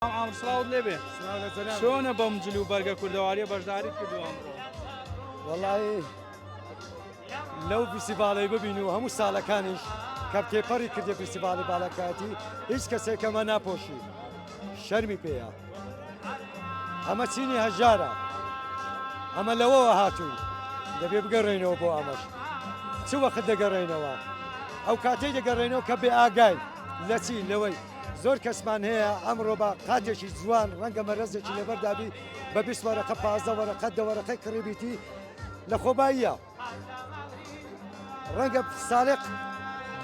مام سڵاوت لێبێ چۆنە بەم جل و بەرگە کوردەواریە بەشداریت کردووە وەڵی لەو فیسیڤالەی ببین و هەموو ساڵەکانیش کە تێپەڕی کردێ فیسیڤالی باڵەکاتی هیچ کەسێکەمە ناپۆشی شەرمی پێەیە ئەمە چینی هەژارە ئەمە لەوەوە هاتووی دەبێ بگەڕێنەوە بۆ ئەمەش چ وەخت دەگەڕێنەوە ئەو کاتەی دەگەڕێنەوە کە بێ ئاگای لە چی لەوەی زۆر کەسمان هەیە ئەمڕۆ بە قاتێکی جوان ڕەنگە مەرەزێکی لەبەردابی بە بیست وەرەقە پازدە وەرەقە دەوەرەقەی کڕیبیتی لە خۆباییە ڕەنگە ساڵێک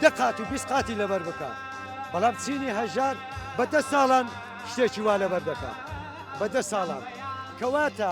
دە قات و بیست قاتی لەبەر بکە بەڵام چینی هەژار بە دە ساڵان شتێکی وا لەبەر دەکە بە دە ساڵان کەواتە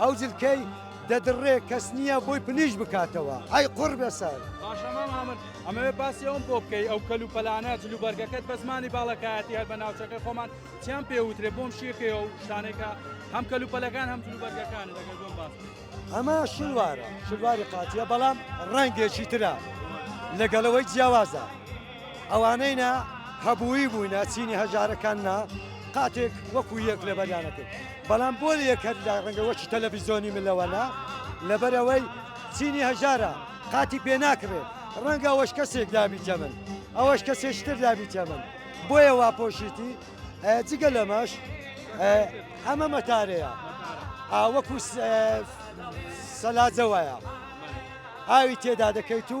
ئەو جلکەی دەدڕێ کەس نییە بۆی پلیش بکاتەوە ئەی قوڕبێسەر. باشە مام ئامر ئەمەوێ باسی ئەوم بۆ بکەی ئەو کەل و پەلانە جل و بەرگەکەت بە زمانی باڵەکایەتی هەر بە ناوچەکەی خۆمان چیان پێ وترێ بۆم شیکەیە و شتانێکە هەم کەل و پەلەکان هەم جل و بەرگەکان لەگەر بۆم باس بکەی. ئەمە شلوارە شلواری قاتییە بەڵام ڕەنگێکی ترە لەگەڵ ئەوەی جیاوازە. ئەوانەی نا هەبووی بووینە چینی هەژارەکان نا قاتێک وەکو یەک لەبەریانەکرد بەڵام بۆ یەکەر لە ڕەنگە وەکی تەلەڤیزۆنی ملەوەنا لەبەرەوەی چینی هەژارە قاتی پێ ناکرێت ڕەنگە ئەوەش کەسێک دابی جەمن ئەوەش کەسێشتر دابی جەمن بۆیە وا پۆشیتی جگە لەمەش ئەمە مەتارەیە ئاوەکو سەلاجەوەیە ئاوی تێدا دەکەیت و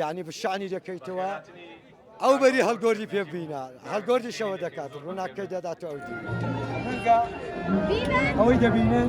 یانی بشانی دەکەیتەوە ئەو بەری هەڵگۆری پێ بینە هەڵگۆری شەوە دەکات ڕووناکەی دەدات ئەو دی ئەوەی دەبینن